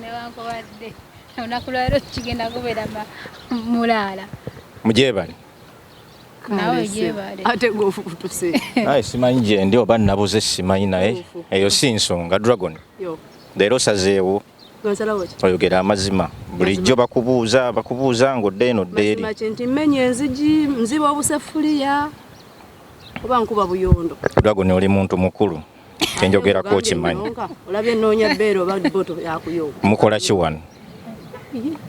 newankubadde olunaku lwalero kigenda kubeera mulaala mugyebale aye simanyi gyendi oba nabuze simanyi naye eyo si nsonga dragon leero sazeewo oyogera amazima bulijjo bakubuuza bakubuuza ng'odde eno ddeeri nti mmenya enzigi nziba obusefuliya oba nkuba buyondo dragon oli muntu mukulu kyenjogerako okimanyi olabye nnoonya bbeere oba boto yakuyo mukola ki wano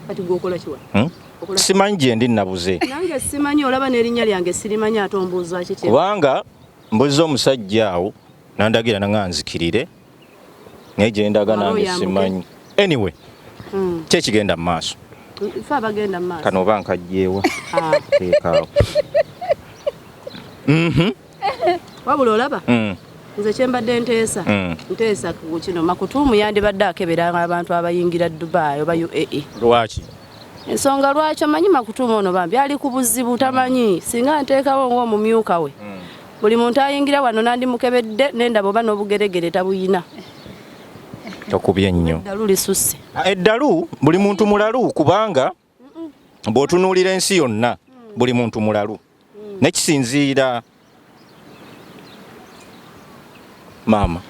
kati gwokola ki wano hmm? simanyi gyendi nabuze nange simanyi olaba n'erinnya lyange sirimanyi ate ombuuza kiki kubanga mbuza omusajja awo nandagira nanga nzikirire naye gyendaga nange simanyi anyway hmm. kyekigenda mu maaso kano oba nkajjeewa ah. ekaawo mhm. wabula olaba hmm. nze kyembadde nteesa hmm. nteesa kino makutuumu yandibadde akebera abantu abayingira dubai oba uae lwaki ensonga lwaki amanyi makutuuma ono bambi ali ku buzibu tamanyi singa nteekawo ngaomumyuka we mm. buli muntu ayingira wano nandimukebedde nendaba oba n'obugeregere tabuyina tokubye nnyo eddalu lisusse eddalu buli muntu mulalu kubanga bw'otunuulira ensi yonna buli muntu mulalu nekisinziira maama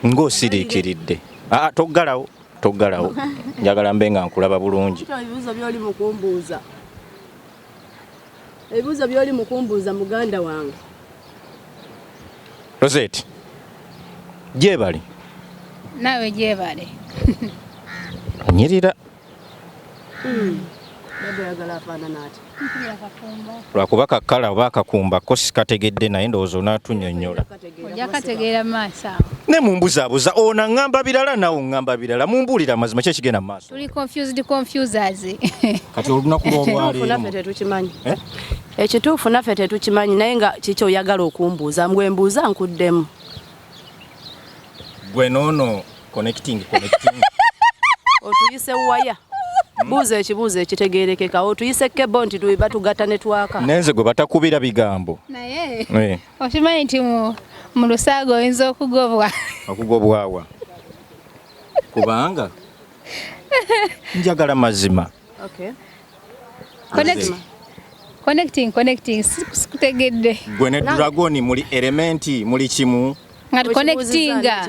ng'osiriikiridde aa ah, toggalawo toggalawo njagala mbe nga nkulaba bulungi ebibuzo byoli mukumbuuza ebibuuzo byoli mukumbuuza muganda wange Rosette gyebali naawe gyebale onyirira hmm. lwakuba kakala oba akakumba ko sikategedde naye ndowooza onatunyonyola ojakategeera maaso awo ne mumbuzabuza ono aŋŋamba birala nawe oŋŋamba birala mumbuulira amazima ki ekigenda mu maaso tuli confused confusers kati olunaku lwolwaleero tetukimanyi eh? ekituufu naffe tetukimanyi naye nga kiki oyagala okumbuuza mbwe mbuuza nkuddemu gwe noono connecting connecting otuyise waya buuza ekibuuzo ekitegeerekeka otuyise kebo nti batugatta ne twaka nenze gwe batakubira bigambo naye eh. okimanyi nti mu lusaaga oyinza okugobwa okugobwawa kubanga njagala mazima okay. connecting connecting sikutegedde gwe ne dragon muli elementi muli kimu nga tuconnectinga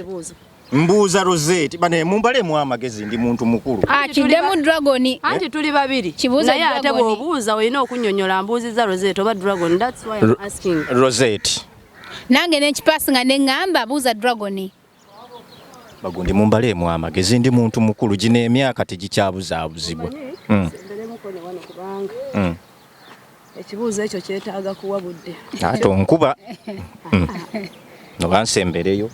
Mbuuza Rosette bane mumbale mu amagezi ndi muntu mukulu. Akide mu dragon. Anti tuli babiri. Kibuuza dragon. Naye ate bwobuuza olina okunyonyola mbuuziza Rosette oba dragon. That's why I'm asking. Rosette. Nange ne kipass nga ne ngamba buuza dragon. Bagundi mumbale mu amagezi ndi muntu mukulu gine emyaka tegikyabuzaabuzibwa. Mm. Mm. Ekibuuzo ekyo kyetaaga kuwa budde. Ate onkuba mm. noba nsembereyo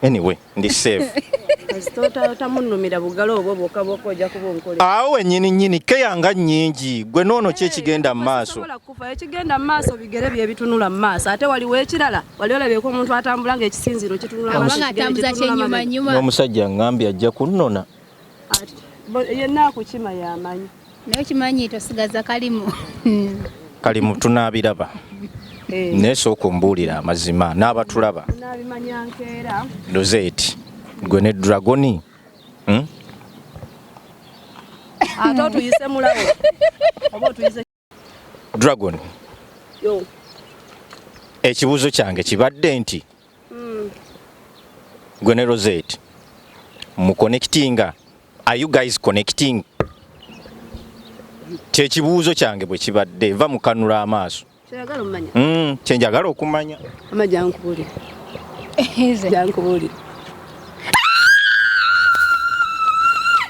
anyway ndi safe awo wenyini nyini keyanga nyingi gwe noono ki ekigenda mu maaso ekigenda mu maaso bigere byebitunula mu maaso ate waliwo ekirala wali olabyeko omuntu atambula ngaekisinziiro kitunulaomusajja ngambye ajja kunnona yenna akukima yamanyi naye okimanyi tosigaza kalimu kalimu tunabiraba eh. naye sooka ombuulira amazima n'abatulaba dozeeti gwe ne dragoni hmm? ate otuyise mulawo oba otuyise Dragon. Yo. Ekibuzo kyange kibadde nti. Mm. Gwe ne Rosette mu connecting are you guys connecting? Kye kibuzo kyange bwe kibadde va mukanula amaaso. Kyagala omanya. Mm, kye njagala okumanya. Amaja nkubuli. Eze. Jankubuli.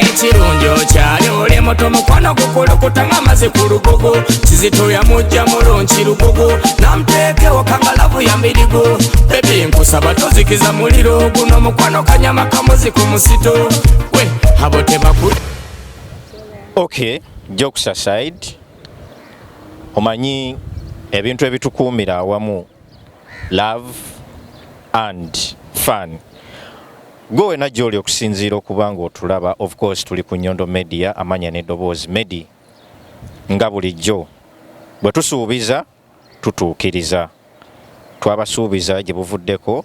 ekirungi okyali oli muto mukwano gukulukutanga amazi ku lugugu kizito yamujja mulungi lugugu namuteekewo kangalavu ya mbirigu bebi nkusaba tozikiza muliro guno mukwano kanyama kamuzi ku musito we abo tebaku okay jokes aside omanyi ebintu ebitukuumira awamu love and fun Gwe wena gyoli okusinziira okuba nga otulaba of course tuli ku Nyondo Media amanya ne doboozi Medi nga bulijjo bwe tusuubiza tutuukiriza twabasuubiza gye buvuddeko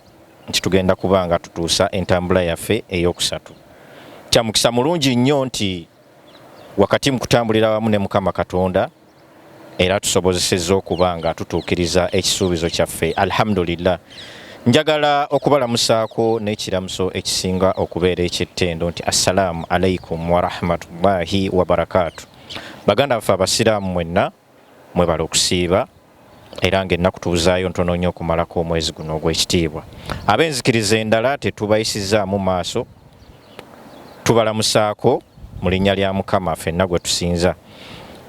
nti tugenda kuba nga tutuusa entambula yaffe ey'okusatu kya mukisa mulungi nnyo nti wakati mu kutambulira wamu ne Mukama Katonda era tusobozesezza okuba nga tutuukiriza ekisuubizo kyaffe alhamdulillah njagala okubalamusaako n'ekiramuso ekisinga okubeera eky'ettendo nti assalaamu alaikum warahmatullahi wabarakaatu baganda baffe abasiraamu mwenna mwebala okusiiba era ng'ennaku tuzaayo ntono nnyo okumalako omwezi guno ogw'ekitiibwa ab'enzikiriza endala tetubayisizaamu maaso tubalamusaako mu linnya lya mukama fenna gwe tusinza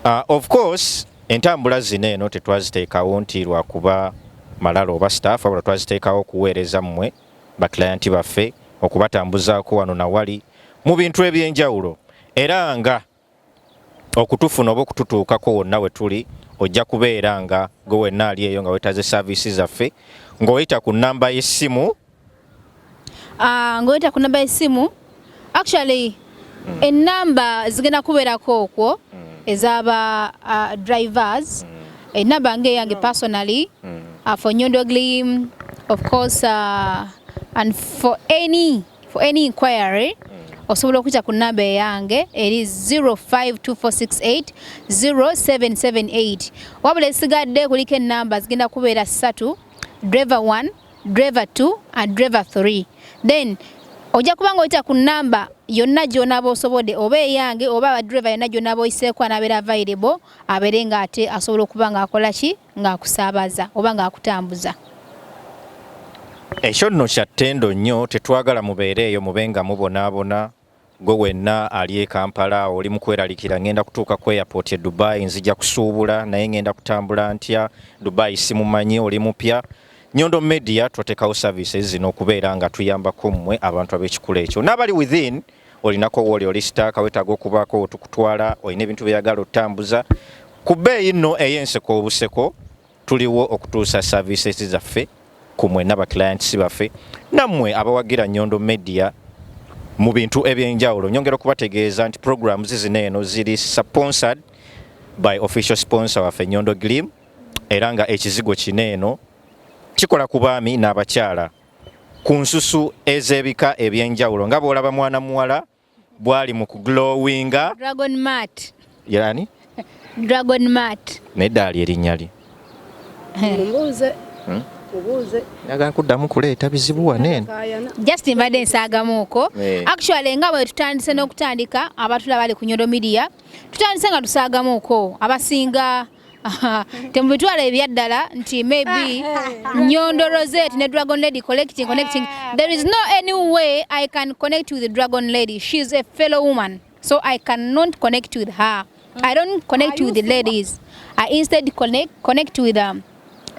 uh, of course entambula zino eno tetwaziteekawo nti lwakuba malala oba staff abula twaziteekawo okuweereza mmwe bakilayanti baffe okubatambuzaako wano na wali mu bintu eby'enjawulo era nga okutufuna oba okututuukako wonna we tuli ojja kubeera nga gwe wenna ali eyo nga wetaze saaviisi zaffe ng'oyita ku nnamba y'essimu ah, ng'oyita ku nnamba y'essimu actually mm. ennamba zigenda kubeerako okwo mm. ez'aba ah, drivers mm. ennamba ng'eyange mm. personally mm. uh, for nyondoglim of course uh, and for any For any inquiry osobola okuyita ku namba eyange eri 0524680778 wabula esigadde kuliko enamba zigenda kubeera satu driver 1 driver 2 and driver 3 then ojja kuba ng'oyita ku namba yonna gy'onaaba osobodde oba eyange oba abadriva yonna gy'onaaba oyiseeko anabeera available abeere ng'ate asobola okuba ng'akola ki ng'akusaabaza oba ng'akutambuza. Ekyo nno kya ttendo nnyo, tetwagala mubeere eyo mube nga mubonaabona. Ggwe wenna ali e Kampala oli mu kweralikira, ng'enda kutuuka ku airport e Dubai, nzija kusuubula naye ng'enda kutambula ntya? Dubai simumanyi, oli mupya. Nyondo Media twateekawo services zino okubeera nga tuyambako mmwe abantu ab'ekikula ekyo n'abali within olinako wooli oli sitaaka wetaaga okubaako wetukutwala olina ebintu byeyagala otambuza ku bbeeyi nno ey'enseko obuseko tuliwo okutuusa services zaffe ku mwenna ba clients baffe nammwe abawagira Nyondo Media mu bintu ebyenjawulo nyongera okubategeeza nti programs zino eno ziri sponsored by official sponsor waffe Nyondo Glim era nga ekizigo kino eno kikola ku baami n'abakyala ku nsusu ez'ebika eby'enjawulo nga bw'olaba mwana muwala bw'ali mu kuglowinga dragon mat yani dragon mat naye ddaali erinnya lye mbuuze hmm? njagala kuddamu kuleeta bizibu wanene just mbadde nsaagamuuko eh. actually nga bwe tutandise n'okutandika abatula bali ku nyodo media tutandise nga tusaagamuuko abasinga temubitwala ebyaddala nti maybe nyondo rosette ne dragon lady collecting connecting there is no any way i can connect with dragon lady she is a fellow woman so i cannot connect with her i don't connect with the ladies i instead connect, connect with them um,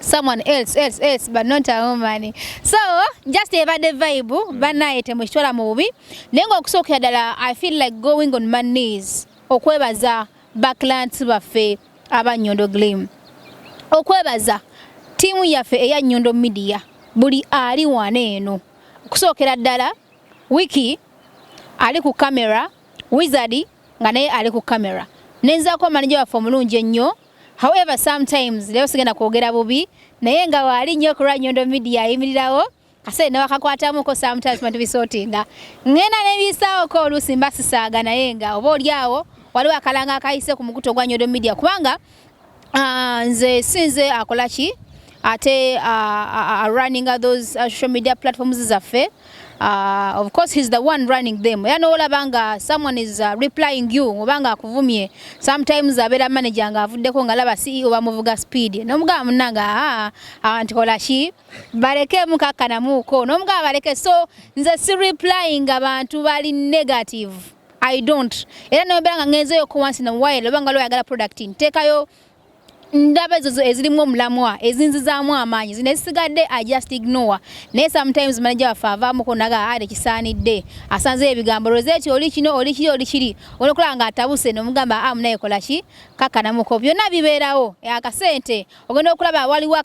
someone else else else but not a woman so just ebadde vibe banaye temukitwala mu bubi naye ngaokusookera ddala i feel like going on my knees okwebaza ba clients baffe aba Nyondo Glim okwebaza tiimu yaffe eya Nyondo Media buli ali wana eno okusookera ddala wiki ali ku kamera wizard nga naye ali ku kamera nenzaako manija waffe omulungi ennyo however sometimes leero sigenda kwogera bubi naye nga waali nnyo ku lwa nyondo media ayimirirawo kase ne wakakwatamuko sometimes bantu bisotinga ngenda ne bisawo ko olusi mbasisaaga naye nga oba olyawo waliwo akalanga akayise ku mukuto gwa nyodo media kubanga uh, nze sinze akola ki ate uh, uh, uh, running those uh, social media platforms zaffe uh, of course he's the one running them era nowolaba nga someone is uh, replying you oba nga akuvumye sometimes abeera manager nga avuddeko nga laba ceo bamuvuga speed nomugamba munanga aa ah, awantikola ah, ki baleke mukakkana muuko n'omugamba baleke so nze si replying abantu bali negative i don't era nobera nga ngenzeyo ko once in a while oba nga lwoyagala product nteekayo ndaba ezo ezirimu omulamwa ezinzizaamu amaanyi zino ezisigadde i just ignore naye sometimes manaja waffe avaamuko naga ade kisaanidde asanzeyo ebigambo roseti oli kino oli kiri oli kiri olwokulaba nga atabuse nomugamba amunaye ah, kolaki kakkanamuko byonna bibeerawo akasente ogenda okulaba waliwo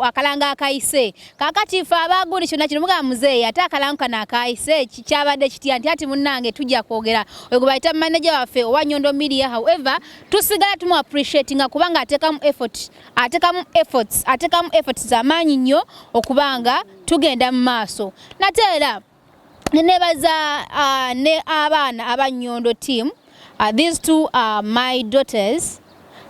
akalango akayise kakati fe abaguli kyona kino mugamba muzeeyi ate akalango kano akayise kyabadde kitya nti ati munnange tujja kwogera oyo gwe bayita manaja waffe owa nyondo media however tusigala tumu appreciatinga kubanga atekamu effort atekamu efforts atekamu efforts zamaanyi nnyo okubanga tugenda mu maaso nate era nebaza uh, ne abaana aba nyondo team uh, these two are my daughters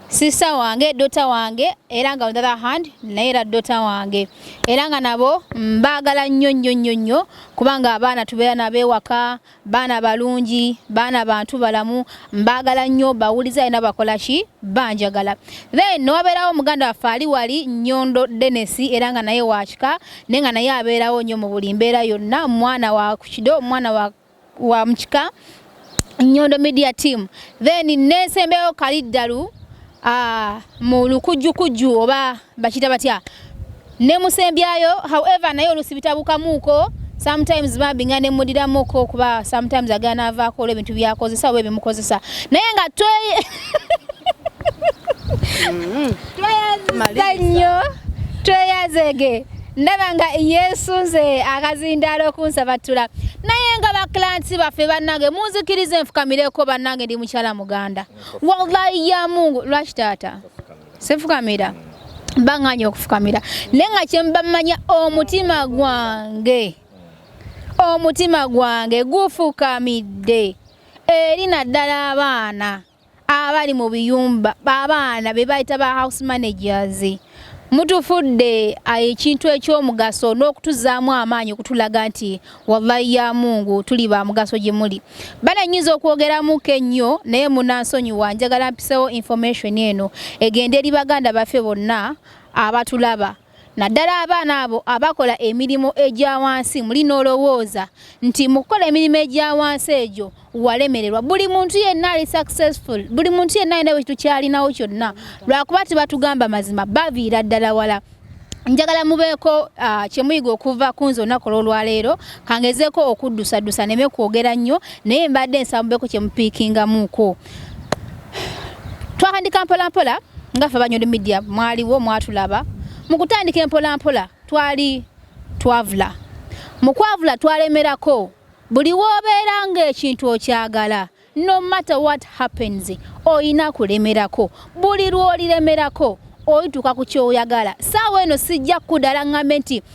sister wange dota wange era nga on the other hand naye era dota wange era nga nabo mbaagala nnyo nnyo nnyo nnyo kubanga abaana tubeera nabeewaka baana balungi baana bantu balamu mbaagala nnyo bawuliza era bakola ki banjagala then newabeerawo muganda waffe ali wali nyondo denesi era nga naye wakika naye nga naye abeerawo nnyo mu buli mbeera yonna mwana wa kukido mwana wa, wa mukika nyondo media team then nesembeyo kaliddalu uh, mu lukujjukujju oba bakita batya nemusembyayo however naye olusi bitabukamuuko sometimes bambi nga nemudiramuko kuba sometimes agana avaako olwo ebintu byakozesa oba ebimukozesa naye nga twe mm-hmm. tweyaziza nnyo tweyazege ndaba nga yesu nze akazindaala okunsabattula naye nga bakilansi baffe bannange munzikiriza enfukamireko bannange ndi mukyala muganda wallahi ya mungu lwaki taata sifukamira banganya okufukamira naye nga kyembamanya omutima gwange omutima gwange gufukamidde eri naddala abaana abali mu biyumba babaana be bayita ba house managers mutufudde ah, ekintu ekyomugaso n'okutuzaamu amaanyi okutulaga nti wallahi ya mungu tuli ba mugaso gye muli bana nyinza okwogeramuko ennyo naye munansonyiwa njagala mpisewo information eno egende eri baganda baffe bonna abatulaba naddala abaana abo abakola emirimu egya wansi muli n'olowooza nti mu kukola emirimu egya wansi egyo walemererwa buli muntu yenna ali successful buli muntu yenna alina wekitu kyalinawo kyonna lwakuba tebatugamba mazima baviira ddala wala njagala mubeeko uh, ah, kyemuyiga okuva ku nze olunaku olwolwaleero kangezeeko okuddusaddusa neme kwogera nnyo naye mbadde nsaba mubeeko kyemupiikingamuuko twakandika mpolampola nga fe banyoli media mwaliwo mwatulaba mu kutandika empolampola twali twavula mu kwavula twalemerako buli w'obeera ng'ekintu okyagala no matter what happens olina kulemerako buli lw'oliremerako oyituuka ku kyoyagala saawa eno sijja kudala ngambe nti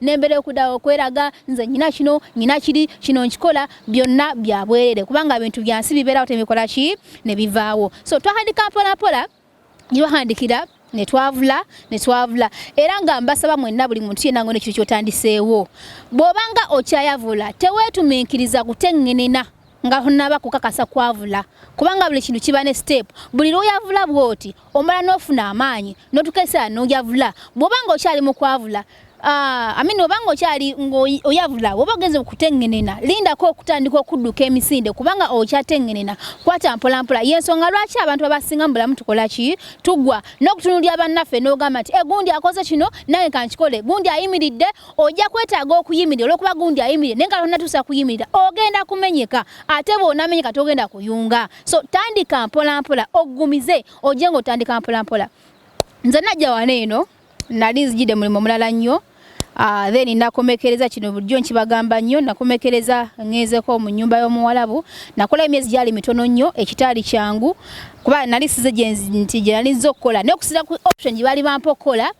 nembera okudawo okweraga nze nyina kino nyina kiri kino nkikola byonna byabwerere kubanga bintu byansi bibeerawo tebikola ki ne bivaawo so twahandika mpolampola gyebahandikira netwavula netwavula era nga mbasaba mwenna buli muntu yenna ngone kiri kyotandiseewo bw'obanga okyayavula teweetuminkiriza kuteŋŋenena nga hunaba kukakasa kwavula kubanga buli kintu kiba ne step buli lwoyavula bwoti omala nofuna amaanyi notukesa noyavula bwoba nga okyali mu kwavula Ah, amini obanga okyali ngoyavula oba ogenze okutengenena lindako okutandika okudduka emisinde kubanga okyatengenena kwata mpolampola yensonga lwaki abantu babasinga mubulamu tukola ki tugwa n'okutunulira bannaffe n'ogamba nti egundi eh, akoze kino nange kankikole gundi ayimiridde ojja kwetaaga okuyimirira olwokuba gundi ayimirire naye nga tonatuusa kuyimirira ogenda kumenyeka ate bwonamenyeka togenda kuyunga so tandika mpolampola ogumize ojje nga otandika mpolampola nze najja wana eno nali nzijide mulimu mulala nnyo Uh, then nakomekereza kino bulijjo nkibagamba nnyo nakomekereza ngezeko mu nyumba y'omuwalabu nakola emyezi gyali mitono nnyo ekitaali kyangu kuba nali size nti gyenali nza okukola naye okusira ku option gye baali bampa okukola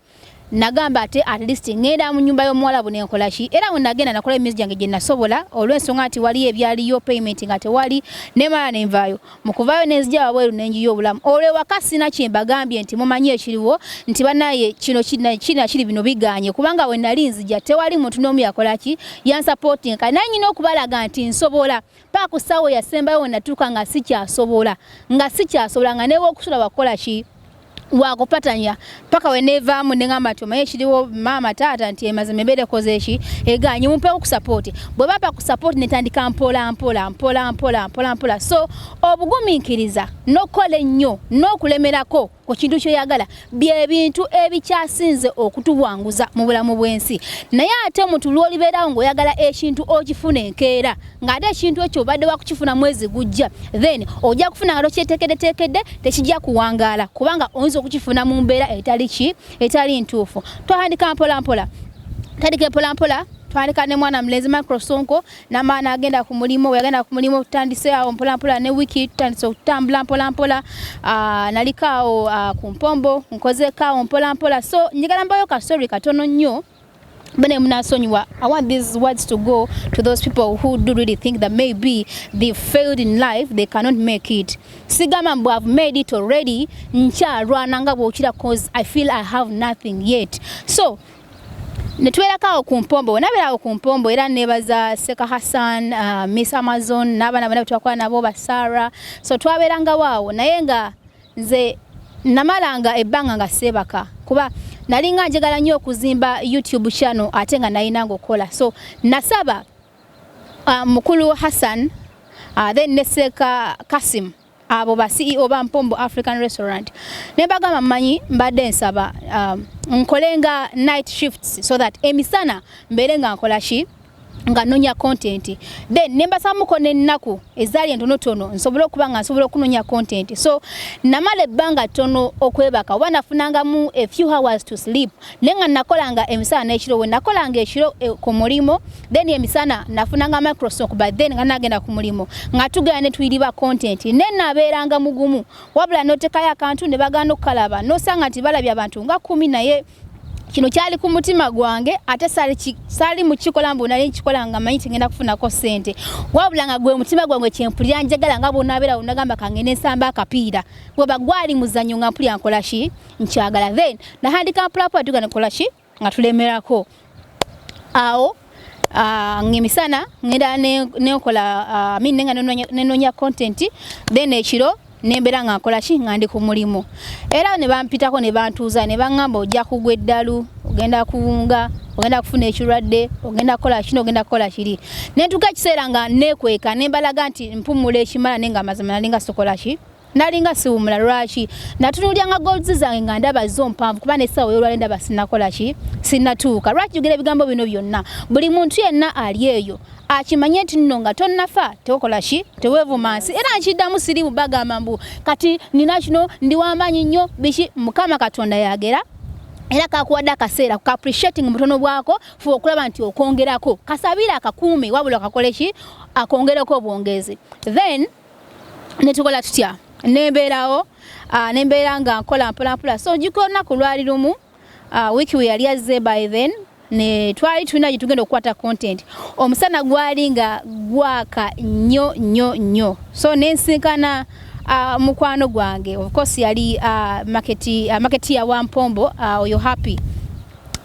nagamba ate at least ngenda mu nyumba y'omuwalabu nenkola ki era we nagenda nakola emyezi gyange gye nasobola olw'ensonga nti waliyo ebyaliyo payment nga tewali nemala nenvaayo mu kuvaayo nenzija wabweru nenjiyo obulamu olwo ewaka sina kye mbagambye nti mumanyi ekiriwo nti banaye kino kirina kiri bino bigaanye kubanga we nali nzija tewali muntu n'omu yakola ki yansapootinga kale naye nyina okubalaga nti nsobola paa ku ssaawa eyasembayo we natuuka nga sikyasobola nga sikyasobola nga newokusula wakukola ki wakupatanya paka wenevaamu nengamba nti omaye ekiriwo maama taata nti emazima embeera ekoze eki eganye mumpewo ku sapoti bwe bapa ku sapoti netandika mpola mpola mpola mpola mpola mpola so obugumiikiriza n'okukola ennyo n'okulemerako ku kintu kyoyagala byebintu ebikyasinze okutuwanguza mu bulamu bw'ensi naye ate omuntu lwolibeerawo ngaoyagala ekintu okifuna enkeera ng'ate ekintu ekyo obadde wakukifuna mwezi gujja then ojja kufuna nga tokyetekedetekedde tekijja kuwangaala kubanga oyinza okukifuna mu mbeera etali ki etali ntuufu twatandika mpolampola tandika empolampola twaleka ne mwana mulenzi microsonko namala nagenda ku mulimu weyagenda ku mulimu tutandise awo mpolampola ne wiki tutandise okutambula mpolampola ah, naliko awo ah, ku mpombo nkozeko awo mpolampola so njagala mbayo kasori katono nnyo bene munasonyiwa i want these words to go to those people who do really think that maybe they failed in life they cannot make it sigamba mbu have made it already nkyalwana nga bwokira cause i feel i have nothing yet so netubeerako awo ku mpombo wenabeera awo ku mpombo era nebaza seka hassan uh, miss amazon n'abaana bona betwakola nabo basara so twabeerangawo awo naye nga nze namalanga ebbanga nga seebaka kuba nalinga njagala nnyo okuzimba youtube channel ate nga nalinanga okukola so nasaba uh, mukulu hassan uh, then neseka kasim abo ba CEO ba Mpombo African Restaurant ne bagamba manyi mbadde nsaba um, nkole nga night shifts so that emisana mbeere nga nkola ki nga nonya content then nembasamuko nennaku ezaali entonotono nsobola okuba nga nsobola okunonya content so namala ebbanga ttono okwebaka oba nafunangamu a few hours to sleep naye nga nakolanga emisana nekiro we nakolanga ekiro e, ku mulimu then emisana nafunanga microsoft but then nga nagenda ku mulimu nga tugenda ne tuyiriba content ne nabeeranga mugumu wabula notekayo akantu ne bagana okukalaba nosanga nti balabye abantu nga kumi naye kino kyali ku mutima gwange ate saali mukikola mbu nali nkikola nga manyi tigenda kufunako sente wabula nga gwe mutima gwange kyempulira njagala nga bwonabeera unagamba kange nensamba akapiira weba gwali muzanyo nga mpulira nkolaki nkyagala then nahandika mpulapula tugana kola ki nga tulemerako awo Uh, ngemisana ngenda nenkola uh, mi nenga nenonya content then ekiro nembera nga nkola ki nga ndi ku mulimu era ne bampitako ne bantuuza ne bangamba ojja kugwa eddalu ogenda kuwunga ogenda kufuna ekirwadde ogenda kukola kino ogenda kukola kiri nentuka ekiseera nga nekweka nembalaga nti mpumula ekimala nenga amazima nalinga sokola ki nalinga siwumula lwaki natunulyanga golds zange nga ndaba zo mpanvu kuba nesawo yolwale ndaba sinakola ki sinatuuka lwaki jogera ebigambo bino byonna buli muntu yenna ali eyo akimanye nti nno nga tonnafa tewokola ki tewevuma nsi era nkiddamu sirimu bagamba mbu kati nina kino ndi wamaanyi nnyo biki mukama katonda yagera era kakuwadde akaseera ku appreciating mutono bwako fuba okulaba nti okwongerako kasabiire akakuume wabula kakole ki akwongereko obwongezi then netukola tutya nembeerawo ah, nembeera nga nkola mpolampola so njuka olunaku lwali lumu ah, wiki we yali azze by then ne twali tulina gye tugenda okukwata content omusana gwali nga gwaka nnyo nnyo nnyo so nensinkana uh, mukwano gwange of course yali uh, market, uh, market ya wampombo oyo uh, happy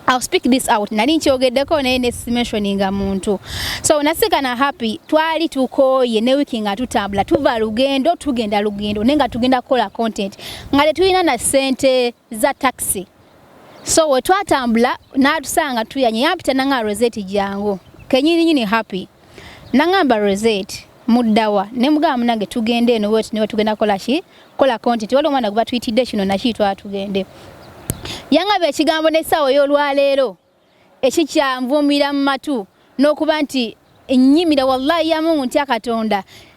I'll speak this out nali nkyogeddeko naye ne mentioninga muntu so nasika na happy twali tukooye ne wiki nga tutambula tuva lugendo tugenda lugendo naye nga tugenda kukola content nga tetulina na ssente za taxi so we twatambula n'atusanga tuyanye yampita nanga roseti jangu kenyini nyini happy Nangamba Rosette muddawa ne mugamba munange tugende eno wet ne tugenda kola ki kola content waliwo omwana gubatuyitidde kino naki twala tugende yangaba ekigambo n'essaawa ey'olwaleero ekikyanvuumira mu matu n'okuba nti ennyimira wallahi ya mungu ntya katonda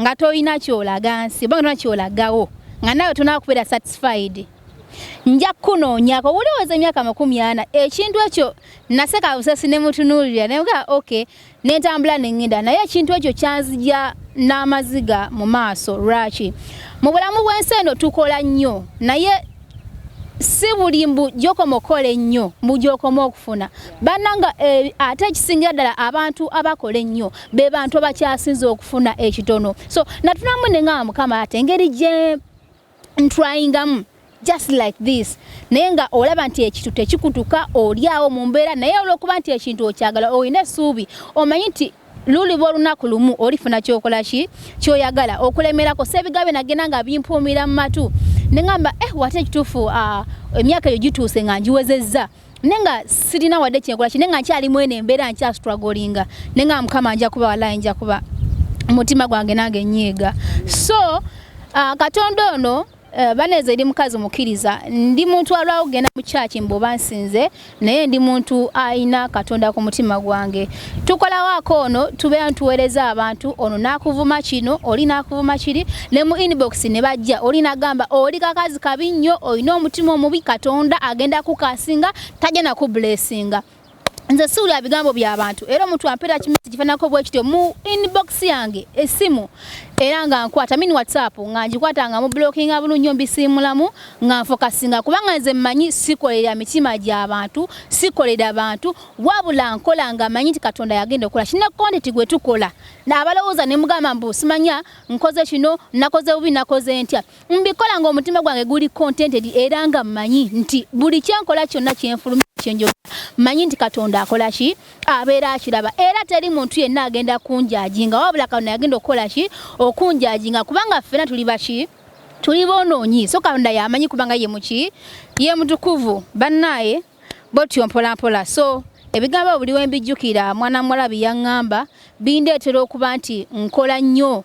nga tolina kyolaga nsi oba nga tolina kyolagawo nga nawe tolina kubeera satisfied nja kukunoonyako wuliwoza emyaka makumi ana ekintu ekyo naseka busesi ne mutunuulira naye nga ok nentambula nengenda naye ekintu ekyo kyanzija n'amaziga mu maaso lwaki mu bulamu bw'ensi eno tukola nnyo naye si buli mbu gyokoma okukola ennyo mbu gyokoma okufuna bannanga eh, ate ekisingira ddala abantu abakola ennyo be bantu abakyasinza okufuna ekitono so natunamu ne ngamba mukama ate engeri gye ntryingamu just like this naye nga olaba nti ekintu tekikutuka olyawo mu mbeera naye olwokuba nti ekintu okyagala olina essuubi omanyi nti luliba olunaku lumu olifuna kyokola ki kyoyagala okulemerako sebigabe nagenda nga bimpuumira mu matu nengamba eh wate ekituufu ah, emyaka eyo gituuse nga ngiwezezza ne nga sirina wadde kyenkola ki ne nga nkyalimu eno embeera nkyasitwagolinga ne nga mukama nja kuba walayi nja kuba omutima gwange nange nyiiga so uh, katonda ono Eh, baneze ndi mukazi mukiriza ndi muntu alwawo kugenda mu kyaki mboba nsinze naye ndi muntu ayina katonda ku mutima gwange tukolawaako ono tubeera ntuweereza abantu ono nakuvuma kino oli nakuvuma kiri ne mu inbox ne bajja oli nagamba oli kakazi kabi nnyo olina omutima omubi katonda agenda kukasinga tajja nakubulesinga nze siwulira bigambo bya bantu era omuntu ampeera kimesi kifanako bwe kityo mu inbox yange essimu era nga nkwata mini whatsapp nga ngikwata nga mu blocking abulu nyo mbisiimulamu nga nfokasinga kubanga nze mmanyi sikolera mitima gy'abantu sikolera bantu wabula nkola nga manyi nti katonda yagenda okukola kina kontenti gwe tukola naabalowooza ne mugamba mbu simanya nkoze kino nakoze bubi nakoze ntya mbikola nga omutima gwange guli contented era nga manyi nti buli kyenkola kyonna kyenfulumi kyenjoga manyi nti katonda akola ki abeera akiraba era teri muntu yenna agenda kunjaji nga wabula katonda yagenda okukola ki okunjaji nga kubanga ffena tuli baki tuli bonoonyi so katonda yamanyi kubanga ye muki ye mutukuvu bannaaye botyo mpolampola so ebigambo buli wembijjukira mwana muwala byeyaŋŋamba bindeetera okuba nti nkola nnyo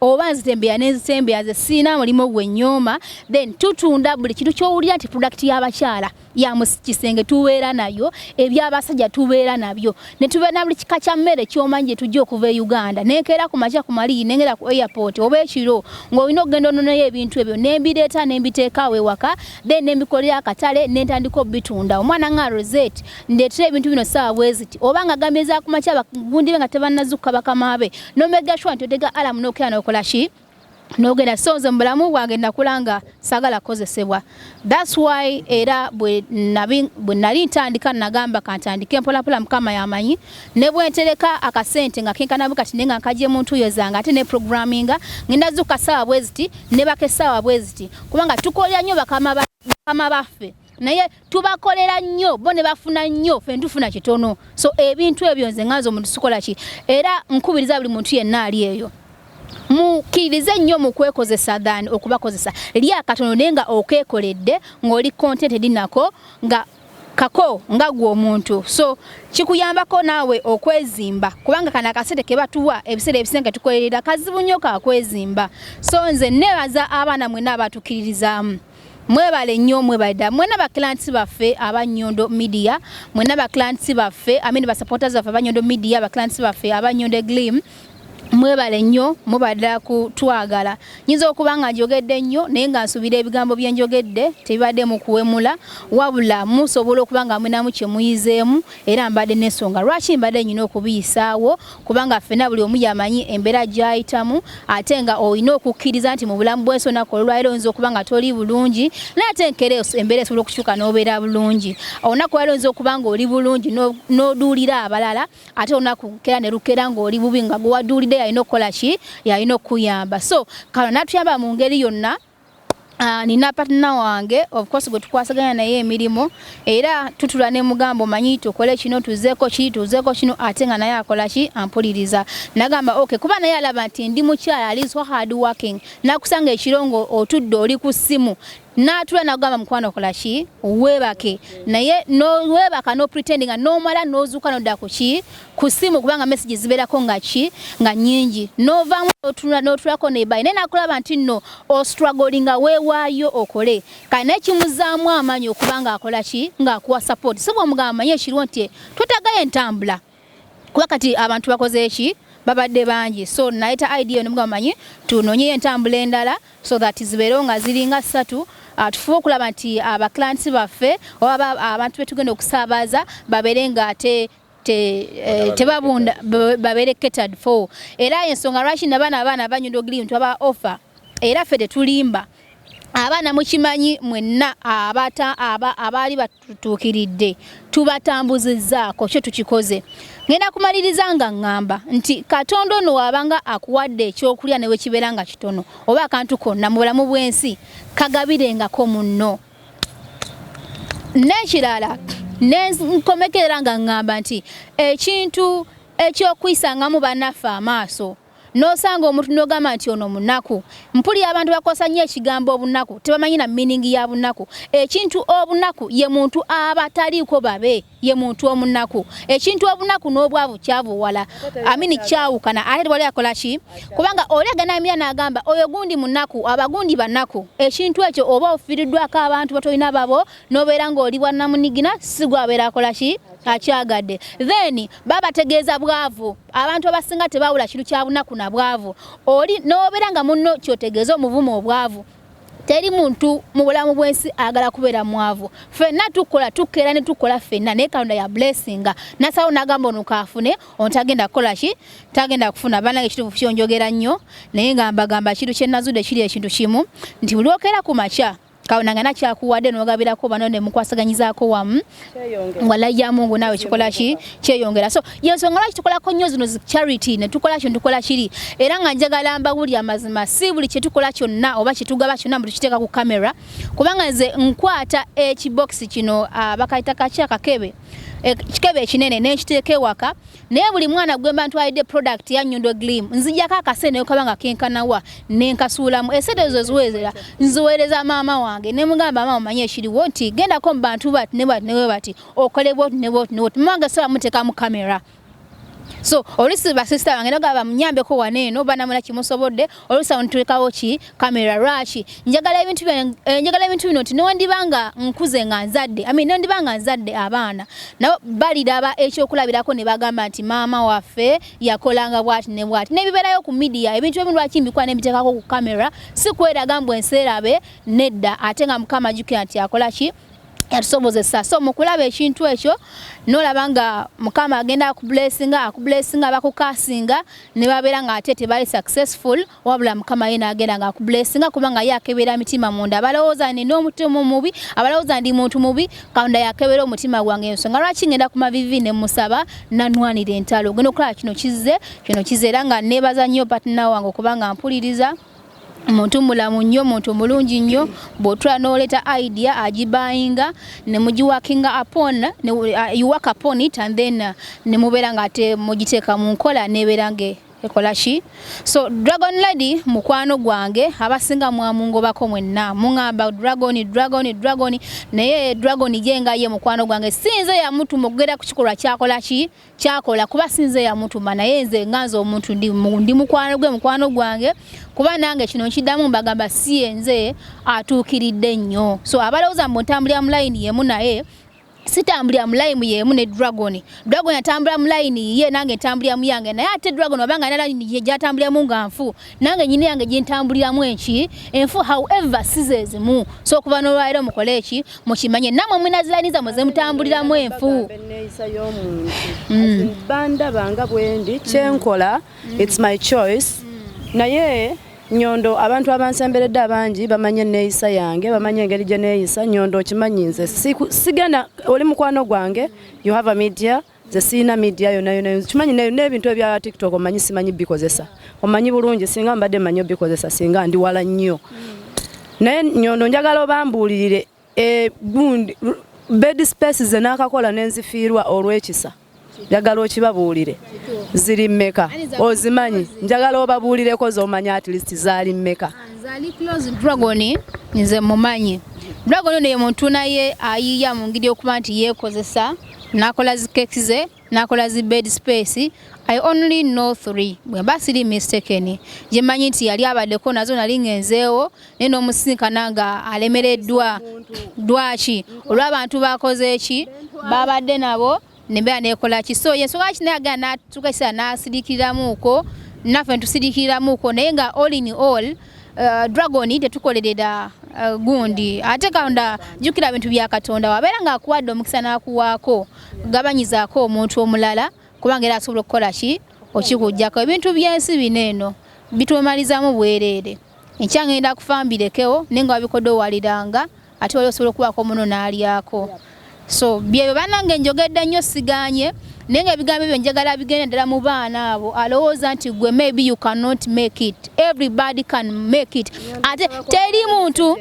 oba nzitembeya nenzitembeya nze siina mulimu gwe nyooma then tutunda buli kintu kyowulira nti product y'abakyala ya mu kisenge tubeera nayo eby'abasajja tubeera nabyo ne tubeera na buli kika kya mmere kyomanyi gye tujja okuva e uganda nenkeera ku makya ku maliyi nengera ku airport oba ekiro ng'olina okugenda ononayo ebintu ebyo nembireeta nembiteekaawo ewaka then nembikolera akatale nentandika obitunda omwana nga rosette ndeetera ebintu bino saawa bweziti oba nga gambye za ku makya bagundibe nga tebannazukka bakamaabe no make sure nti odega alarm no kya no kola shi no genda so nze mbulamu bwange nakulanga sagala kozesebwa that's why era bwe nabi bwe nali ntandika nagamba kantandike mpola pola mukama yamanyi ne bwe ntereka akasente nga kinka nabuka tinenga nkaje muntu yezanga ate ne programming ngenda zuka sawa bweziti ne bakesawa bweziti kubanga tukolya nyo bakama ba kama bafe naye tubakolera nnyo bo ne bafuna nnyo fe ntufuna kitono so ebintu ebyo nze nganza omuntu sikola ki era nkubiriza buli muntu yenna ali eyo mukirize nnyo mu kwekozesa than okubakozesa lya katono naye nga okeekoledde ng'oli contented nako nga kako nga gwe omuntu so kikuyambako naawe okwezimba kubanga kano akasente ke batuwa ebiseera ebisinga tukolerera kazibu nnyo kakwezimba so nze neebaza abaana mwena abatukkiririzaamu Mwebale nnyo mwebale ddala mwena ba clients baffe aba Nyondo Media mwena ba clients baffe I mean ba supporters baffe aba Nyondo Media ba clients baffe aba Nyondo Glim mwebale nnyo mubadde kutwagala nyinza okuba nga njogedde nnyo naye nga nsuubira ebigambo bye njogedde tebibadde mu kuwemula wabula musobola okuba nga munamu kye muyizeemu era mbadde n'ensonga lwaki mbadde nyina okubiyisaawo kubanga ffena buli omu yamanyi embeera gyayitamu ate nga olina okukkiriza nti mu bulamu bwensi olunaku olwaliro oyinza okuba nga toli bulungi naye ate enkera embeera esobola okukyuka n'obeera bulungi olunaku olwaliro oyinza okuba nga oli bulungi n'oduulira abalala ate olunaku nkera ne lukera ng'oli bubi nga gwewaduulidde yalina okukola ki yalina okukuyamba so kano natuyamba mu ngeri yonna Ah, nina patna wange ofcourse gwe tukwasaganya naye emirimu era tutula ne mugambo manyi tukole kino tuzeko ki tuzeko kino ate nga naye akola ki ampuliriza nagamba ok kuba naye alaba nti ndi mukyala ali so hard working nakusanga ekirongo otudde oli ku ssimu natula nagamba mukwano okola ki webake naye nowebaka nopretendinga nomala nozuuka nodda ku ki ku simu kubanga message ziberako nga ki nga nyingi novamu notula notulako nebayi naye nakulaba nti no o struggling nga wewayo okole kale naye kimuzaamu amaanyi okubanga akola ki nga akuwa support so bwomugamba manye ekiriwo nti twetagayo entambula kuba kati abantu bakoze eki babadde bangi so nayeta idea nomuga manyi tunonyeyo entambula endala so that zibeerewo nga ziringa ssatu ah, tufuba okulaba nti abaclients ah, baffe oba abantu betugenda okusaabaza babeere nga ate Eh, tebabunda babere catered for era ensonga lwaki nabaana abaana abanyunda ogiri ntu aba offer era ffe tetulimba abaana mukimanyi mwenna abata aba abaali batutuukiridde tubatambuzizaako kyo tukikoze ngenda kumaliriza nga ŋŋamba nti katonda ono waabanga akuwadde ekyokulya newekibeera nga kitono oba akantu konna mu bulamu bw'ensi kagabirengako munno n'ekirala nenkomekerera nga ŋŋamba nti ekintu ekyokuyisangamu banaffe amaaso nosanga omuntu nogamba nti ono munaku mpulira abantu bakosa nnyo ekigambo obunaku tebamanyi na miningi ya bunaku ekintu obunaku ye muntu aba taliiko babe ye muntu omunaku ekintu obunaku n'obwavu kyavuwala amini kyawukana ate wali akola ki kubanga oli aganamira n'agamba oyo gundi munaku abagundi banaku ekintu ekyo oba ofiiriddwako abantu batolina babo n'obeera ng'oli bwannamunigina si gwabeera akola ki akyagadde then babategeeza bwavu abantu abasinga tebawula kintu kyabunaku na bwavu oli nobeera nga munno kyotegeeza omuvuma obwavu teri muntu mu bulamu bw'ensi agala kubeera mwavu fenna tukola tukeera ne tukola fenna naye katonda ya blessinga nasawo nagamba ono kaafune ono tagenda kukola ki tagenda kufuna banange ekituufu kyo njogera nnyo naye nga mbagamba ekintu kye nazudde kiri ekintu kimu nti buli okeera ku makya kaona nga nakyakuwadde nogabirako bano ne mukwasaganyizaako wamu walayi ya mungu naawe kikola ki kyeyongera so yensonga lwaki tukolako nnyo zino charity netukola kino tukola kiri era nga njagala mbawuli amazima si buli kyetukola kyonna oba kyetugaba kyonna mbu tukiteeka ku kamera kubanga nze nkwata ekibokisi kino ah, bakayita kaki akakebe ekikebe ekinene nenkiteeka ewaka naye buli mwana gwemba ntwalidde product ya nyondo glim nzijako akasente nekaba nga kenkanawa nenkasuulamu esente ezo ziweereza nziweereza maama wange nemugamba maama manye ekiriwo nti gendako mu bantu bati ne bati newe bati okole bwoti ne bwoti ne bwoti maama wange saba muteeka mu kamera so olusi basisita bange nagaba munyambeko wano eno banamula kimusobodde olusa ontukawo ki camera lwaki njagala ebintu byange eh, njagala ebintu bino nti nondibanga nkuze nga nzadde i mean nondibanga nzadde abaana nabo baliraba ekyokulabirako ne bagamba nti maama waffe yakolanga bwati ne bwati nebibeerayo ku midiya ebintu ebimu lwaki mbikuba nembiteekako ku camera si kweraga mbu enseerabe nedda ate nga mukama jukira nti akola ki yatusobozesa so mukulaba ekintu ekyo nolaba nga mukama agenda akubulesinga akubulesinga bakukasinga ne babeera nga ate tebali successful wabula mukama ye nagenda nga akubulesinga kubanga ye akebera mitima munda abalowooza nina omutima omubi abalowooza ndi muntu mubi katonda yakebera omutima gwange ensonga lwaki ngenda ku mavivi ne musaba nanwanira entalo ogenda okulaba kino kizze kino kize era nga nebaza nnyo patina wange okubanga mpuliriza muntu mulamu nnyo muntu mulungi nnyo bwotula noleta idea agibayinga nemugiwakinga apon uwak uh, upon it and then uh, nemubeera nga ate mugiteeka mu nkola nebeera nga ekola ki so dragon lady mukwano gwange abasinga mwamungobako mwenna muŋamba dragon dragon dragon naye dragon jenga ye mukwano gwange sinze yamutuma okugera ku kikolwa kyakola ki kyakola kuba sinze yamutuma naye nze nga nze omuntu ndi mukwano gwe mukwano gwange kuba nange kino nkiddamu mbagamba si enze atuukiridde nnyo so abalowooza mbu ntambulira mu layini yemu naye sitambulira mu layini yemu ne dragon dragon atambula mu layini ye nange ntambulira mu yange naye ate dragon wabanga na layini ye gyatambuliramu nga nfu nange nyini yange gintambuliramu enki enfu however sizezimu so okuva nolwaliro mukole eki mukimanye namwe mwinaziraniza mwe zemutambuliramu enfu mm. bandaba nga bwendi kyenkola mm. its my choice mm. naye nyondo abantu abansemberedde abangi bamanyi enneeyisa yange bamanyi engeri gye neeyisa nyondo okimanyi nze sigenda oli mukwano gwange you have a media nze sirina media yona yona kimanyi n'ebintu ebya tiktok omanyi simanyi bikozesa omanyi bulungi singa mbadde manyi obikozesa singa ndi wala nnyo naye nyondo njagala obambuulirire e, bed space ze naakakola nenzifiirwa olw'ekisa njagala okibabuulire ziri mmeka ozimanyi njagala obabuulireko zomanya at least zaali mmeka dragoni nze mumanyi dragoni ono ye muntu naye ayiiya mu ngeri okuba nti yeekozesa nakola zi cake ze nakola zi bed space i only know three bwe mba siri mistaken gye manyi nti yali abadeko nazo nali ngenzeewo naye n'omusinkana nga alemereddwa dwaki olw'abantu bakoze ki babadde nabo nembeera nekola ki so yensonga kinaye agenda natuka ekiseera nasirikiramuuko naffe netusirikiramuuko naye nga all in all uh, dragon tetukolerera uh, gundi ate katonda jukira bintu bya katonda wabeera nga akuwadde omukisa nakuwaako gabanyizaako omuntu omulala kubanga era asobola okukola ki okikujjako ebintu byensi bino eno bitwemalizamu bwereere enkya ngenda kufa mbirekewo naye nga wabikodde owaliranga ate wali osobola okubaako omuno n'alyako so byebyo banange njogedde nnyo siganye naye nga ebigambo ebyo njagala bigenda ddala mu baana abo alowooza nti gwe maybe you cannot make it everybody can make it ate teri muntu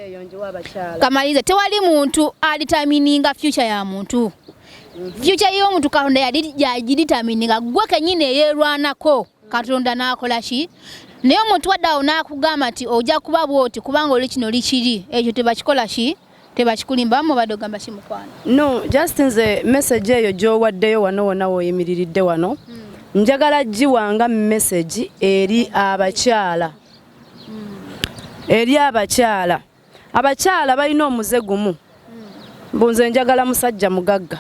kamaliriza tewali muntu alitamininga future ya muntu mhm. future y'omuntu katonda yagiditamininga gwe kenyini eyerwanako katonda n'akola ki naye omuntu wadde awo n'akugamba nti ojja kuba bwoti kubanga oli kino likiri ekyo tebakikola ki tebakikulimba mubadde ogamba ki mukwano no just nze message eyo gy'owaddeyo wano wona woyimiriridde wano hmm. njagala giwanga message eri abakyala hmm. eri abakyala abakyala balina omuze gumu mbu nze njagala musajja mugagga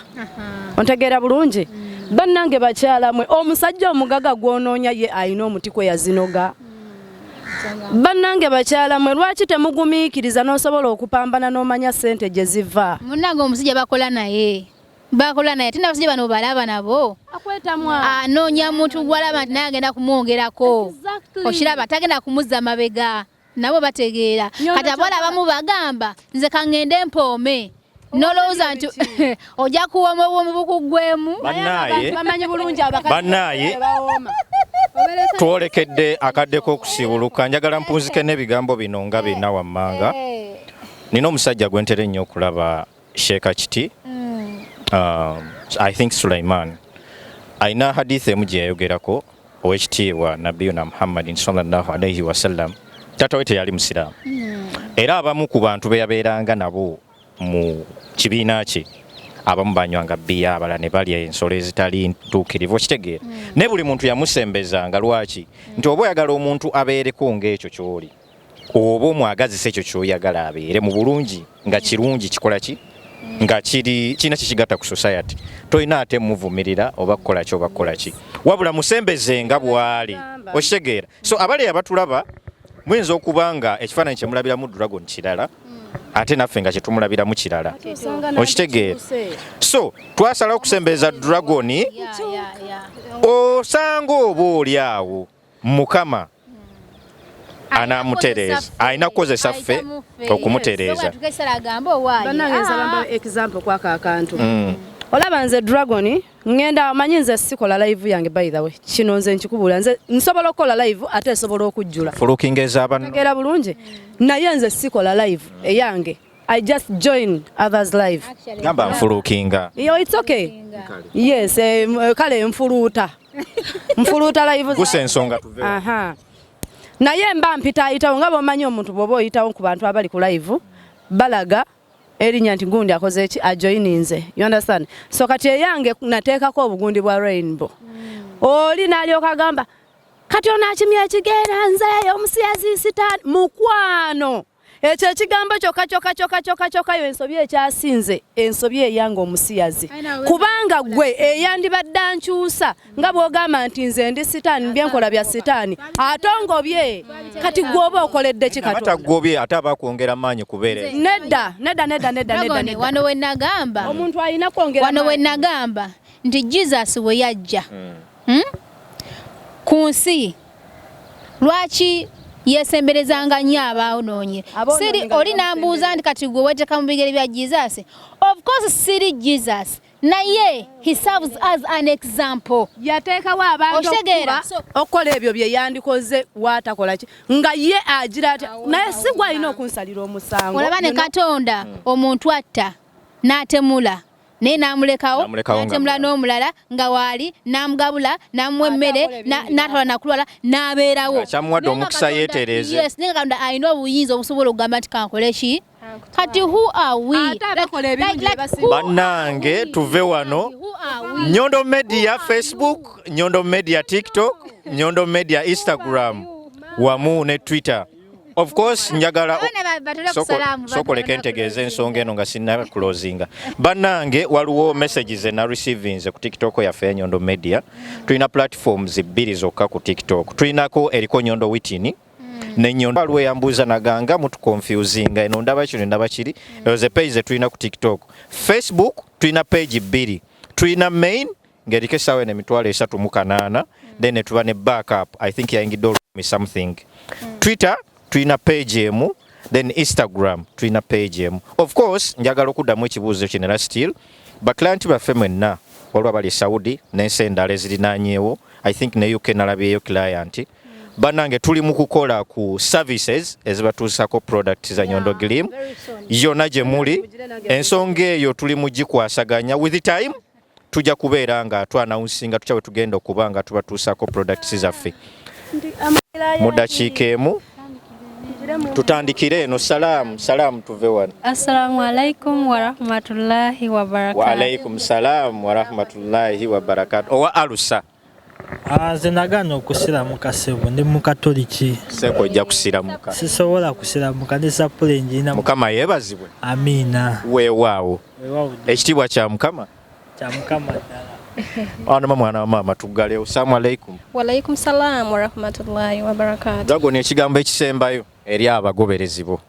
ontegeera bulungi mm. bannange bakyala mwe omusajja omugagga gwonoonya ye alina omuti kwe yazinoga mm. bannange bakyala mwe lwaki temugumiikiriza n'osobola okupambana n'omanya ssente gye ziva munnange omusajja bakola naye bakola naye ate nabasajja bano balaba nabo anoonya muntu gwalaba nti naye agenda kumwongerako okiraba tagenda kumuzza mabega nabo bategeera kati abawala abamu bagamba nze kangende mpoome nolowooza nti ojja kuwoma obwomu bukuggwemu bannaaye twolekedde akadde k'okusiibuluka njagala mpunzike n'ebigambo bino nga bina wammanga eh. nina omusajja gwe ntera ennyo okulaba sheeka kiti mm. um, i think sulaiman alina hadith emu gye yayogerako owekitiibwa nabiyuna muhammadin salllah alaihi wasallam taata we teyali musiraamu mm. era abamu ku bantu be yabeeranga nabo mu kibiina kye abamu banywanga bbiya abala ne balya ensolo ezitali ntuukirivu okitegeera mm. naye buli muntu yamusembezanga lwaki nti oba oyagala omuntu abeereko ng'ekyo ky'oli mm. oba omwagazisa ekyo kyoyagala abeere mu bulungi nga kirungi kikola ki nga kiri kirina kyekigatta ku society tolina ate muvumirira oba kukola ki oba kukola ki wabula musembeze nga bwali okitegeera so abali abatulaba muyinza okuba nga ekifaananyi kyemulabiramu dragon kirala hmm. ate naffe nga kyetumulabiramu kirala okitegeera so twasalawo okusembeeza dragon osanga oba oli awo mukama anamutereeza alina kukozesa ffe okumutereeza olaba nze dragon ngenda manyi nze sikola live yange by the way kino nze nkikubula nze nsobola okukola live ate esobola okujjula fulukinga ezabano tegera bulungi naye nze sikola live eyange I just join others live. Gamba mfulukinga. Yo it's okay. Yes, eh, eh, kale mfuluta. Mfuluta live. Kuse nsonga tuve. Aha. Naye mba mpita ayitawo nga bomanyi omuntu bwoba oyitawo ku bantu abali ku live balaga erinya nti gundi akoze eki ajoininze you understand so kati eyange nateekako obugundi bwa rainbow mm. oli nalyoka gamba kati ono akimya ekigera nzeeyo omusiyazi sitaani mukwano ekyo ekigambo kyoka kyoka kyoka kyoka kyoka yo ensobi ekyasinze ensobi eyanga omusiyazi kubanga gwe eyandibadde ankyusa nga bwogamba nti nze ndi sitaani byenkola bya sitaani ate ongobye kati gwoba okoledde kikatagobye ate abakwongera maanyi kubeere nedda nedda nedda nedda nedda wano wenagamba omuntu alina kwongera wano wenagamba nti jesus we yajja hmm. hmm? ku nsi lwaki yesemberezanga nnyo abaawonoonye siri oli nambuuza nti kati gwe weteeka mu bigere bya jesus of course siri jesus naye he serves as an example yateekawo abantu okukola ebyo bye yandikoze waatakola ki nga ye agira atya naye si gwalina okunsalira omusango olaba ne katonda hmm. omuntu atta n'atemula naye n'amulekawo n'atemula n'omulala nga waali n'amugabula n'amuwa emmere n'atwala nakulwala n'abeerawo kyamuwadde omukisa yeetereeze yes naye katonda alina obuyinza obusobola okugamba nti kankole ki kati who are we bannange tuve wano nyondo media facebook nyondo media tiktok nyondo media instagram wamu ne twitter Of course njagala sokoleka entegeeza ensonga eno nga sinna closinga bannange waliwo message ze na receivinze ku tiktok yaffe enyondo media tulina platforms bbiri zokka ku tiktok tulinako eriko nyondo witini hmm. nenyondo waliwo eyambuuza naganga mutu confusinga eno ndaba kino ndaba kiri ezo ze page zetulina ku tiktok facebook tulina page bbiri tulina main ngeriko esawa eno emitwalo esatu mu kanaana mm. then netuba ne backup i think yayingidde olumi something mm. twitter tulina page emu then instagram tulina page emu of course njagala okuddamu ekibuuzo kino era still baclienti baffe mwenna waliwo abali saudi nensi endala ezirinanyewo i think ne uk nalabyeyo client mm. banange tuli mu kukola ku services ezibatuusako product za nyondo glim yona gye muli ensonga eyo tuli mu gikwasaganya with time tujja kubeera nga twanawunsinga tutya bwe tugenda okuba nga tubatuusaako products zaffe mu dakiika emu tutandikire eno salaamu salaamu tuve wano assalamu alaikum warahmatullahi wabarakatu waalaikum salaamu warahmatullahi wabarakatu owa alusa Ah, nze nagaana okusiramuka sebo ndi mukatoliki seko ojja kusiramuka sisobola kusiramuka ne sapula enjina mukama yebazibwe amiina weewaawo ekitiibwa kya mukama kya mukama ddala Ana mama ana mama tugale usamu alaikum. Wa alaikum salam wa rahmatullahi wa barakatuh. Dago ne kigambo ekisembayo eri abagoberezi bo.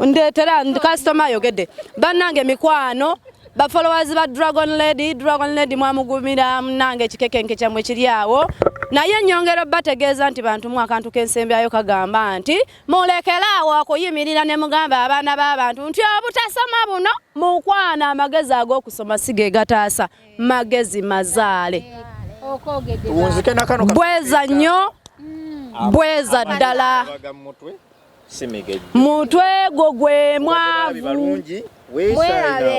Ndetera customer ayogede banange mikwano ba followers ba Dragon Lady Dragon Lady mwamugumira munange kikekenke kyamwe kiri awo naye nyongero bategeeza nti bantu mu akantu k'ensembyayo kagamba nti mulekeraawo okuyimirira ne mugamba abaana b'abantu nti obutasoma buno mukwana amagezi ag'okusoma si ge gataasa magezi mazaale bweza nnyo bweza ddala mutwe gwo gwe mwavu mwerabe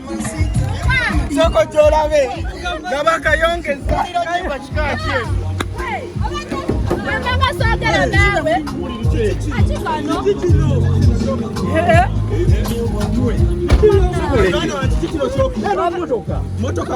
soko gyolabe nga bakayongeza kayimba kika kyeru motoka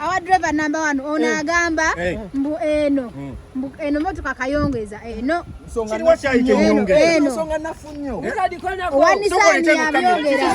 awadriver number one ono eh. agamba eh. mbu eno hmm. mbu eno motoka kayongeza eno owanisani yabyogera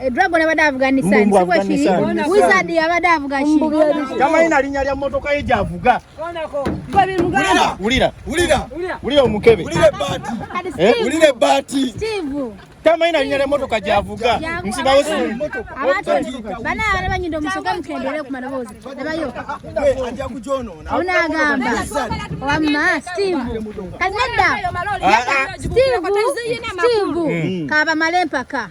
Eh, Dragon abadde avuga Nissan si bwe kiri Wizard abadde avuga ki tamanyi na linnya lya mmotoka ye gy'avuga wulira wulira wulira omukebe wulira ebbaati eh? tamanyi na linnya lya mmotoka gy'avuga nsibawo bana abana banyinda omusoke mukendere ku maloboozi abayo onagamba wamma steve kati nedda ah, ah. steve steve mm. kabamale empaka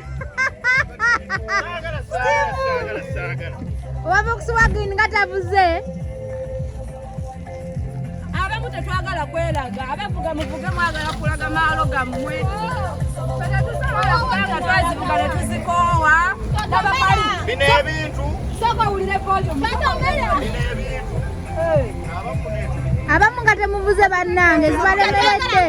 wava okusiwa green nga tavuze abamu tetwagala kwelaga abavuga muvuge mwagala kulaga maalo gammwe tetusobola kubanga twazivuga ne tuzikoowa bino ebintu soka wulire volume abamu nga temuvuze bannange zibalemedde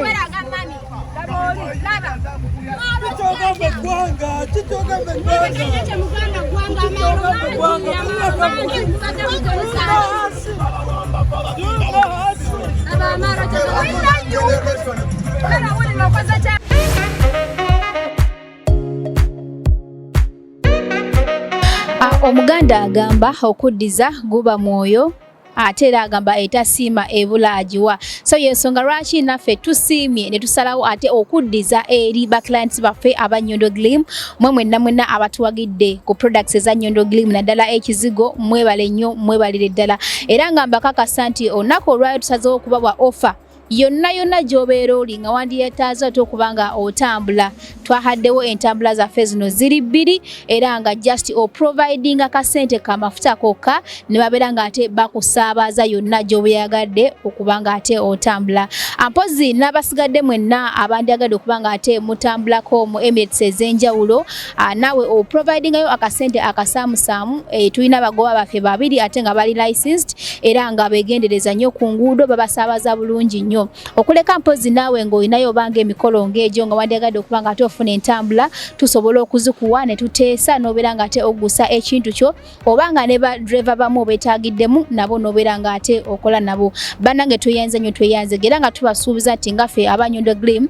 Omuganda agamba okuddiza guba mwoyo ate era agamba etasiima ebula agiwa so yensonga lwaki naffe tusiimye ne tusalawo ate okuddiza eri ba clients baffe aba Nyondo Glim mwe mwenna mwenna abatuwagidde ku products eza Nyondo Glim naddala ekizigo mwebale nnyo mwebalire ddala era nga mbakakasa nti olunaku olwayo tusazeewo okubawa offer yonna yonna gy'obeera oli nga wandiyetaaza ate okuba nga otambula twahaddewo entambula zaffe zino ziri bbiri era nga just oprovidinga kasente kamafuta kokka ne babeera nga ate bakusaabaza yonna gy'obeyagadde okuba nga ate otambula ampozi n'abasigadde mwenna abandyagadde okuba nga ate mutambulako mu emirates ez'enjawulo Ah, nawe o providinga yo akasente akasamu samu e, tulina bagoba bafe babiri ate nga bali licensed era nga begendereza nyo ku nguudo babasabaza bulungi nyo okuleka mpozi nawe ngo inayo bange mikolo ngejo nga wandiagade okubanga ate ofuna entambula tusobola okuzikuwa ne tutesa nobera nga ate ogusa ekintu kyo obanga ne ba driver bamu betagidemu nabo nobera nga ate okola nabo banange tuyenze nyo tuyenze gera nga tubasuubiza tingafe abanyondo glim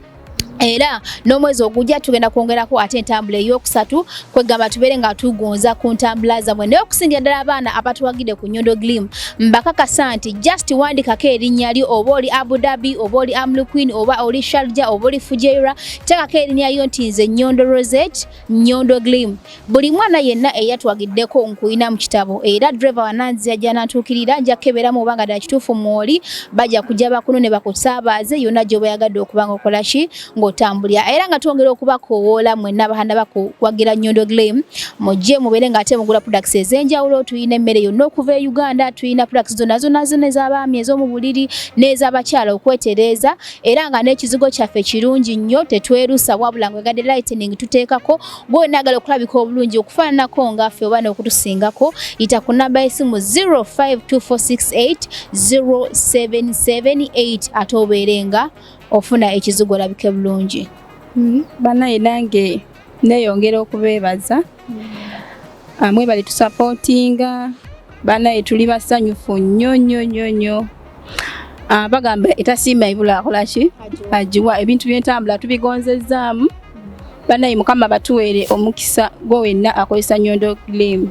era n'omwezi ogujja tugenda kwongerako ate entambula ey'okusatu kwegamba tubeere nga tugonza ku ntambula zamwe naye okusingira ddala abaana abatuwagide ku nyondo glim mbakakasa nti just wandikako erinnya lyo oba oli abu dhabi oba oli amluquin oba oli sharja oba oli fujeira tekako erinnya lyo nti nze nyondo rosette Nyondo Glim buli mwana yenna eyatwagiddeko nkuyina mu kitabo era driver wananzira gyanantuukirira nja kukebera mu obanga ddala kituufu mwoli bajja kujja bakuno ne bakusaabaze yonna gy'oba yagadde okuba nga okola ki ng'otambulira era nga twongera okubakowoola mwenna abahanda bakuwagira Nyondo Glim mujje mubeere ng'ate mugula products ez'enjawulo tulina emmere yonna okuva e Uganda tulina products zonna zonna zonna ez'abaami ez'omu buliri n'ez'abakyala okwetereeza era nga n'ekizigo kyaffe kirungi nnyo tetwerusa wabula ngwegade lightning tuteekako gwenaagala okulabika obulungi okufaananako ngaffe oba n'okutusingako yita ku namba y'esimu 0524680778 ate obeere nga ofuna ekizigo olabike bulungi hmm, banaye nange neyongera okubeebaza amwe bali tusapotinga banaye tuli basanyufu nnyo nnyo nnyo nnyo ah, bagamba etasiima ibula akolaki agiwa ebintu byentambula tubigonzezzaamu banaye mukama batuweere omukisa gwo wenna akozesa nyondo glimu